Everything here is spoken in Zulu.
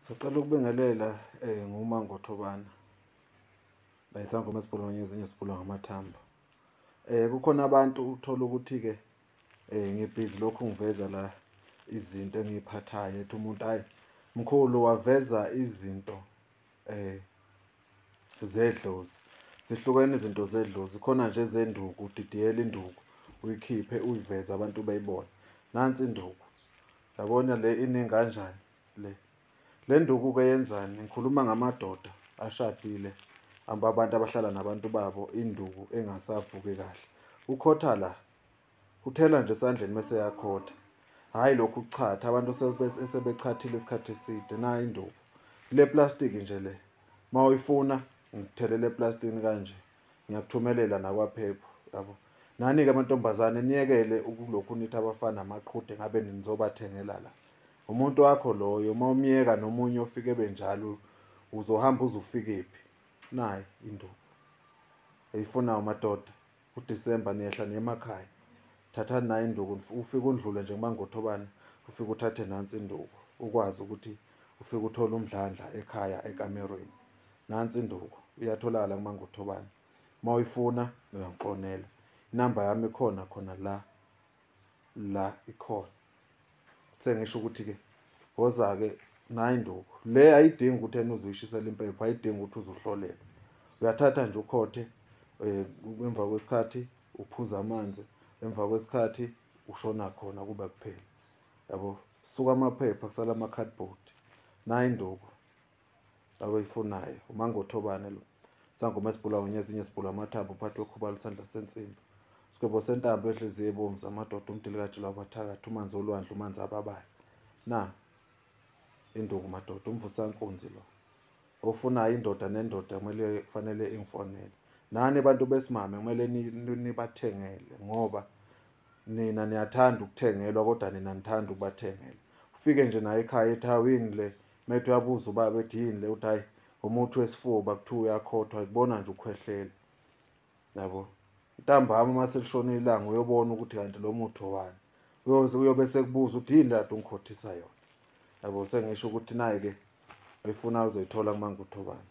Sicela ukubingelela eh nguma ngothobana. Bayisangoma esibholonye ezinye sibhula ngamathambo. Eh kukhona abantu uthola ukuthi ke eh ngibhizi lokhu ngiveza la izinto engiyiphathayo ethi umuntu hayi mkhulu waveza izinto eh zedlozi zihlukene izinto zedlozi khona nje zenduku udidiyela induku uyikhiphe uyiveze abantu bayibone nansi induku yabona le iningi kanjani le le nduku ke yenzani ngikhuluma ngamadoda ashadile amba abantu abahlala nabantu babo induku engasavuki kahle ukhotha la uthela nje esandleni mese yakhotha hayi lokhu kuchatha abantu sebechathile isikhathi eside nayi induku le plastic nje le ma uyifuna ngithelele eplastini kanje ngiyakuthumelela nakwaphepho yabo nani-ke amantombazane niyekele ukulokhu nithi abafana amaqhude ngabe nizobathengela la umuntu wakho loyo uma umyeka nomunye ofike benjalo uzohamba uze ufikephi nayi induku eyifunayo madoda uDisemba niyehla niyemakhaya thathani nayo induku ufike undlule nje kumangothobane ufike uthathe nansi induku ukwazi ukuthi ufike uthole umdlandla ekhaya ekamerweni nansi induku iyatholakala kumangothobane uma uyifuna uyangifonela inamba yami ikhona khona la la ikhona sengisho ukuthi ke woza ke nayi induku le ayidingi ukuthi ena uzoyishisela impepho ayidingi ukuthi uzohlolela uyathatha nje ukhothe eh, emva kwesikhathi uphuza amanzi emva kwesikhathi ushona khona kuba kuphela yabo suka amaphepha kusala ama-cardboard nayi induku abayifunayo umangothobane lo sangoma esibhula wenye ezinye sibhula amathambo uphathi wekhuba lusandla sensimbi sigwebo sentambo enhliziyo ebomvu zamadoda umdilikaji lwabathakathi umanzi olwandle umanzi ababayo na induku madoda umvusankunzi lo ofunayo indoda nendoda kumele kufanele ingifonele nani abantu besimame kumele nibathengele ngoba nina niyathanda ukuthengelwa kodwa nina nithanda ukubathengela ufike nje naye ekhaya ethi hawini le Methi uyabuza ubaba ethi yini le uthi hayi umuthi wesifuba kuthiwa uyakhothwa ikubona nje ukhwehlela yabo ntambama uma selishona ilanga uyobona ukuthi kanti lo muthi owani uyoze uyobe sekubuza uthi yini lati ungikhothisa yona yabo sengisho ukuthi nayi-ke uyifuna uzoyithola kumangutho bani